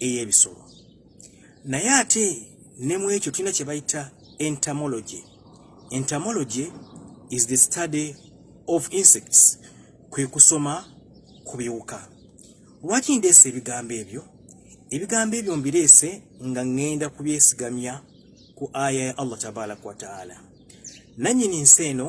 ey'ebisolo naye ate ne mu ekyo tulina kye bayita entomology entomology is the study of insects kwe kusoma ku biwuka lwaki ndeese ebigambo ebyo ebigambo ebyo mbireese nga ŋŋenda kubyesigamya ku aya ya allah tabaraka wataala nannyini nsi eno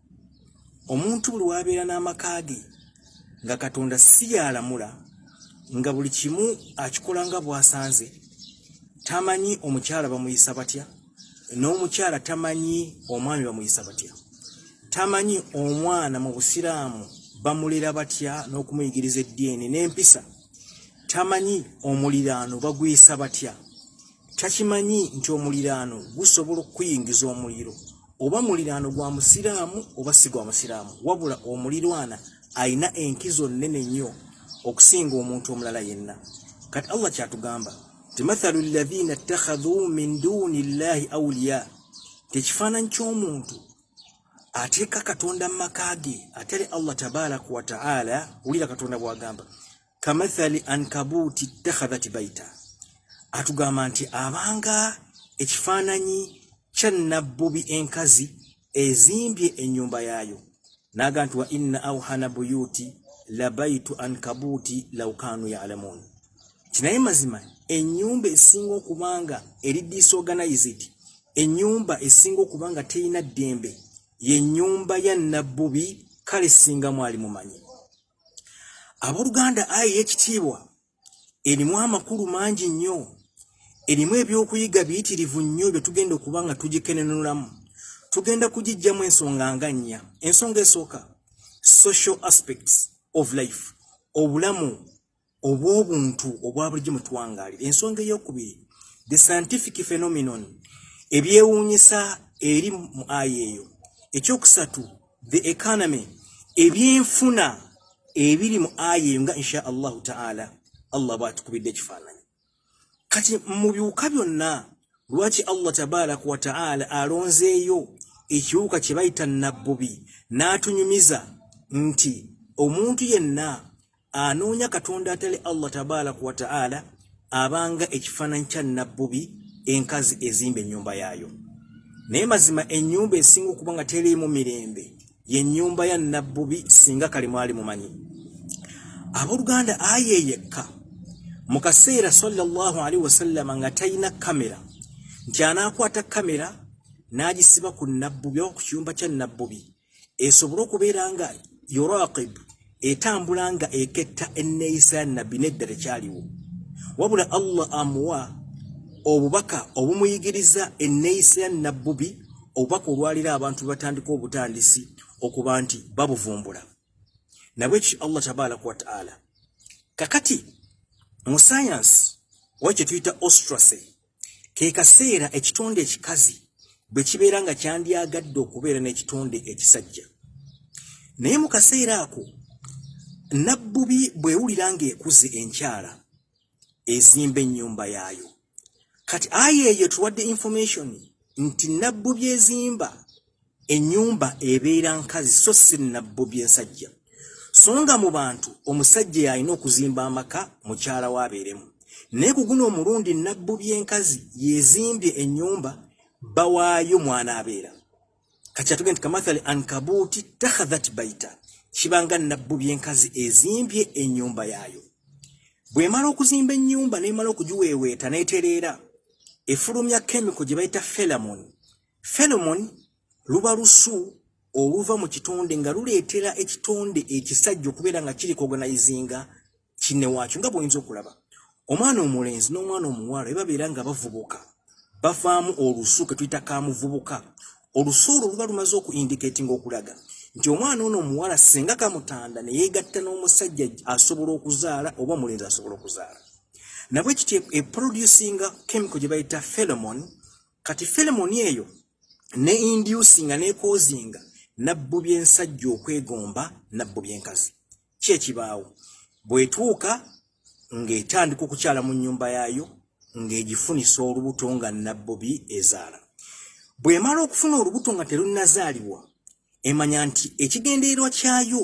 omuntu buli wabeera n'amaka ge nga katonda si yalamula nga buli kimu akikola nga bwasanze tamanyi omukyala bamuyisa batya n'omukyala tamanyi omwami bamuyisa batya tamanyi omwana mu busiraamu bamulera batya n'okumuyigiriza eddiini n'empisa tamanyi omuliraano bagwisa batya takimanyi nti omuliraano gusobola okukuyingiza omuliro oba muliraano gwa musiraamu oba si gwa musiraamu wabula omulirwana alina enkizo nnene nnyo okusinga omuntu omulala yenna kati allah kyatugamba ti mathalu llahina ttakhadhu min duuni llahi auliya tekifaananyi ky'omuntu ateeka katonda mu maka ge atali allah tabaraka wataala wulira katonda bwagamba kamathali ankabuuti takhadhati baita atugamba nti abanga ekifaananyi kya nabbubi enkazi ezimbye ennyumba yaayo naaga nti wa inna auhana buyuti labaitu ankabuuti laukaanu yalamuuni kinaye mazima ennyumba esinga okubanga eri disorganized ennyumba esinga okubanga terina ddembe ye nnyumba ya nabbubi kale singa mwali mumanyi abooluganda ayi ekitiibwa erimu amakulu mangi nnyo erimu ebyokuyiga biyitirivu nnyo bye tugenda okuba nga tugikenenulamu tugenda kugijjamu ensonga nga nnya ensonga esooka social aspects of life obulamu obw'obuntu obwa bulijjo mu twangaalira ensonga ey'okubiri the scientific phenomenon ebyewuunyisa eri mu aya eyo ekyokusatu the economy ebyenfuna ebiri mu aya eyo nga insha allahu taala allah bwatukubidde ekifaananyi kati mu biwuka byonna lwaki allah tabaraka wataala alonzeeyo ekiwuka kye bayita nabbubi n'atunyumiza nti omuntu yenna anoonya katonda atali allah tabaraka wataala abanga ekifaananyi kya nabbubi enkazi ezimba ennyumba yaayo naye mazima ennyumba esinga okuba nga teriimu mirembe ye nyumba ya nabbubi singa kali mwali mumanyi abooluganda aya eyekka mu kaseera sallallahu alaihi wasallama nga talina kamera nti anaakwata kamera n'agisiba ku nabbubi oba ku kiyumba kya nabbubi esobole okubeera nga yuraqibu etambula nga eketta enneeyisa ya nabbi nedda tekyaliwo wabula allah amuwa obubaka obumuyigiriza enneeyisa ya nabbubi obubaka olwalira abantu batandika obutandisi okuba nti babuvumbula nabwekyo allah tabaraka wataala kakati mu sayansi oba kyetuyita ostracy ke kaseera ekitonde ekikazi bwe kibeera nga kyandyagadde okubeera n'ekitonde ekisajja naye mu kaseera ako nabbubi bwewulira ng'ekuze enkyala ezimba ennyumba yaayo kati aya eyo tuwadde information nti nabbubi ezimba Ennyumba ebeera nkazi so si nnabbo by'ensajja. So nga mu bantu omusajja y'alina okuzimba amaka mukyala we abeeremu. Naye ku guno omulundi nnabbo by'enkazi y'ezimbye ennyumba bba waayo mw'anaabeera. Kati atugenda nti kamathali ankabuuti takhadhat baita kiba nga nnabbo by'enkazi ezimbye ennyumba yaayo. Bw'emala okuzimba ennyumba n'emala okugiweeweeta n'etereera efulumya kemiko gye bayita felamoni Pheromone luba lusu oluva mu kitonde nga luleetera ekitonde ekisajja okubeera nga kiri kuoganizinga kinne waakyo nga bwoyinza okulaba omwana omulenzi n'omwana omuwala e babeera nga bavubuka bavaamu olusu ke tuyita ka muvubuka olusu olwo luba lumaze okuindikatinga okulaga nti omwana ono omuwala singa kamutanda ne yeegatta n'omusajja asobola okuzaala oba omulenzi asobola okuzaala nabwe kiti eproducinga chemical gye bayita pheromone kati pheromone eyo ne inducinga nekozinga nabbu byensajja okwegomba nabbu byenkazi kyekibaawo bwetuuka ng'etandika okukyala mu nnyumba yaayo ng'egifunisa olubuto nga nabbubi ezaala bw'emala okufuna olubuto nga terunnazaalibwa emanya nti ekigendererwa kyayo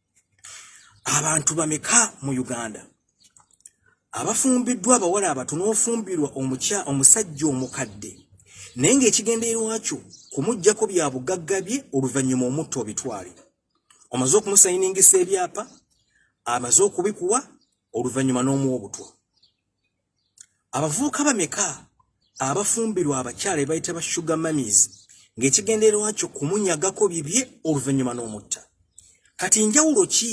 abantu bameka mu uganda abafumbiddwa abawala abatu n'ofumbirwa omukya omusajja omukadde naye ng'ekigendererwakyo kumugjako bya bugagga bye oluvannyuma omutta obitwale omaze okumusayiningisa ebyapa amaze okubikuwa oluvannyuma n'omuwa obutwa abavubuka bameka abafumbirwa abakyala ebayita ba sugar mamis ng'ekigendererwa kyo kumunyagako bibye oluvannyuma n'omutta kati njawulo ki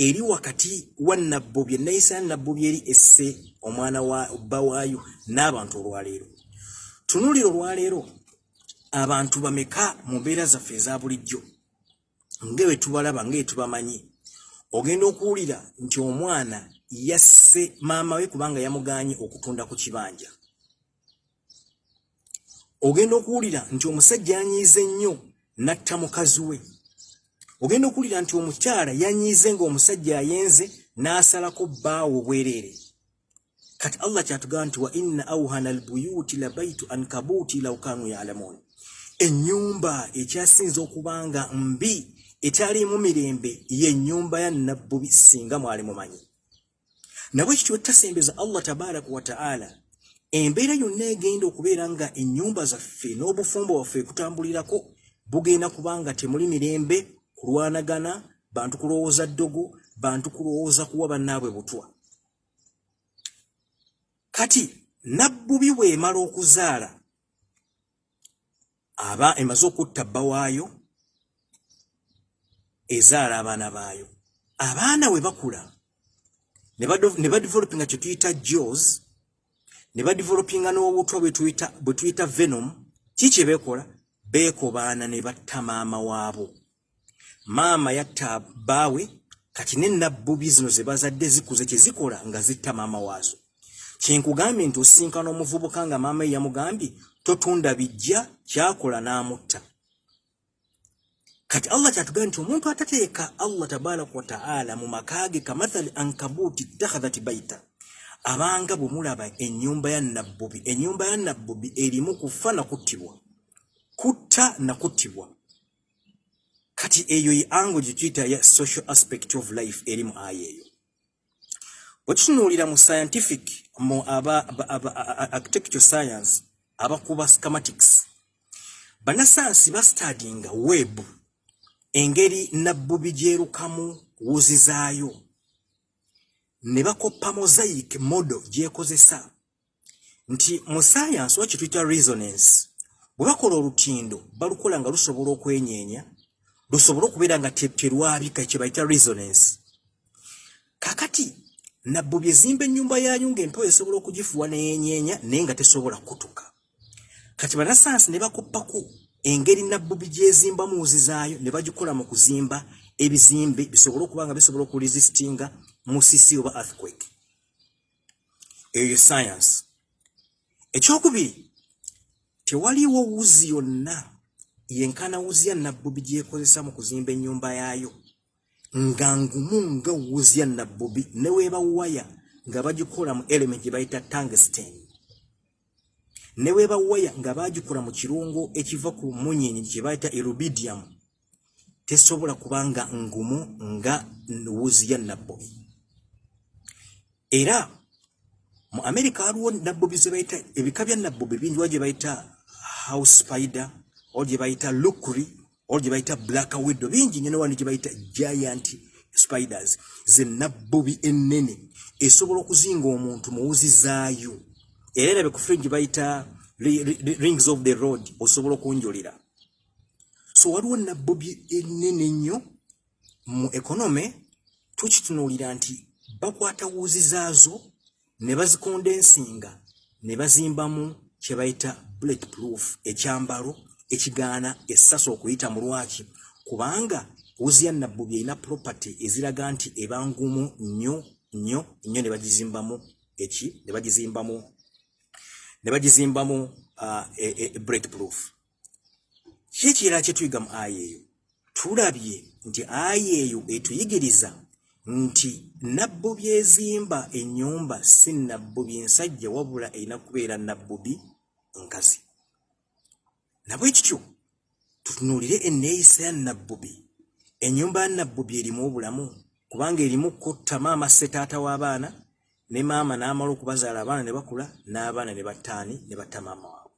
eri wakati wa nabbobye nayisa ya nabbobye eri esse omwana wa bba waayo n'abantu olwaleero tunulira olwaleero abantu bameka mu mbeera zaffe eza bulijjo nga bwe tubalaba nga etubamanyi ogenda okuwulira nti omwana yasse maama we kubanga yamuganye okutunda ku kibanja ogenda okuwulira nti omusajja yanyiize ennyo natta mukazi we ogenda okuwulira nti omukyala yanyiize nga omusajja ayenze n'asalako bbaawo obwereere kati allah kyatugamba nti wa inna auhana albuyuti labaitu ankabuti law kanu yalamun ennyumba ekyasinza okubanga mbi ekyalimu mirembe yennyumba ya nabbubi singa mwali mumanyi nabwe kityo tasembeza allah tabaraka wataala embeera yonna egenda okubeera nga ennyumba zaffe n'obufumbo bwaffe ekutambulirako bugenda kubanga temuli mirembe kulwanagana bantu kulowooza ddogo bantu kulowooza kuwa bannaabwe butwa kati nabbubi bw'emala okuzaala aba emaze okutta bba waayo ezaala abaana baayo abaana we bakula ne badevelopinga kye tuyita jos ne badevelopinga n'obutwa bwe tuyita venom ki kye beekola beekobaana ne batta maama waabo maama yatta baawe kati ne nabbubi zino ze bazadde zikuze kye zikola nga zitta maama waazo kyenkugambye nti osinkana omuvubuka nga maama ye yamugambye totunda bijja kyakola n'amutta kati allah kyatugambye nti omuntu atateeka allah tabaraka wataala mu maka ge kamathali ankabuuti ittakhadhati baita abanga bwe mulaba ennyumba ya nabbubi ennyumba ya nabbubi erimu kufa na kuttibwa kutta na kuttibwa kati eyo ye ango gyetuyita ya social aspect of life eri mu aya eyo bwekitunuulira mu scientific mu aba architecture science abakuba scamatics banasayansi bastadinga web engeri nabbubi gyerukamu wuzi zaayo ne bakoppa mosaic modo gyekozesa nti mu sayansi oba kyetuyita resonance bwe bakola olutindo balukola nga lusobola okwenyeenya lusobole okubeera nga terwabika kye bayita resonance kakati nabbu byezimba ennyumba yaayo ng'empewo esobola okugifuwa neyenyeenya naye nga tesobola kutuka kati banasayansi ne bakuppako engeri nabbu bigyezimba muwuzi zaayo ne bagikola mu kuzimba ebizimbe bisobole okuba nga bisobola okuresistinga musisi oba earthquake eyo ye sayansi ekyokubiri tewaliwo wuzi yonna yenkana wuzi ya nabbubi gyekozesa mu kuzimba ennyumba yaayo nga ngumu nga wuzi ya nabbubi neweeba waya nga bagikola mu element gye bayita tangsten neweeba waya nga bagikola mu kirungo ekiva ku munyenyi kye bayita erubidiamu tesobola kubanga ngumu nga wuzi ya nabbobi era mu amerika waliwo nabbobi zebayita ebika bya nabbobi bingi wa gye bayita house spider ol gye bayita lukri ol gye bayita black widow bingi nyo newandi gye bayita giant spiders ze nabbobi ennene esobola okuzinga omuntu muwuzi zaayo era erabe ku fringi bayita rings of the road osobola okunjulira so waliwo nabbobi ennene ennyo mu ekonome tukitunuulira nti bakwata wuuzi zaazo ne bazikonda ensinga ne bazimbamu kye bayita bullet proof ekyambalo ekigaana essasi okuyita mu lwaki kubanga wuzi ya nabbobi erina property eziraga nti eba ngumu nnyo nnyo nnyo ne bagizimbamu eki ne bagizimbamu ne bagizimbamu uh, e, e, e break proof kikira kyetuyiga mu aya eyo tulabye nti aya eyo etuyigiriza nti nabbu byezimba enyumba si nabbu byensajja wabula erina kubeera nabbubi nkazi nabwe kityo tutunuulire enneeyisa ya nabbubi enyumba ya nabbubi erimu obulamu kubanga erimu kutta maama setaata w'abaana ne maama n'amala okubazaala abaana ne bakula n'abaana ne battaani ne batta maama waabwe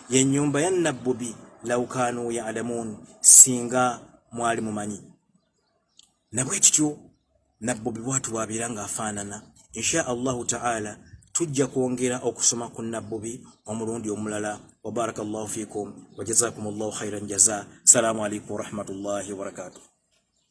yenyumba ya nabbubi laukanu ya alamun singa mwali mumanyi nabwe kityo nabbubi bwatu wabira nga afanana insha allahu taala tujja kwongera okusoma ku nabbubi omulundi omulala wabaraka llahu fikum wajazakum llahu khairan jaza salamu alaikum warahmatullahi wabarakatuh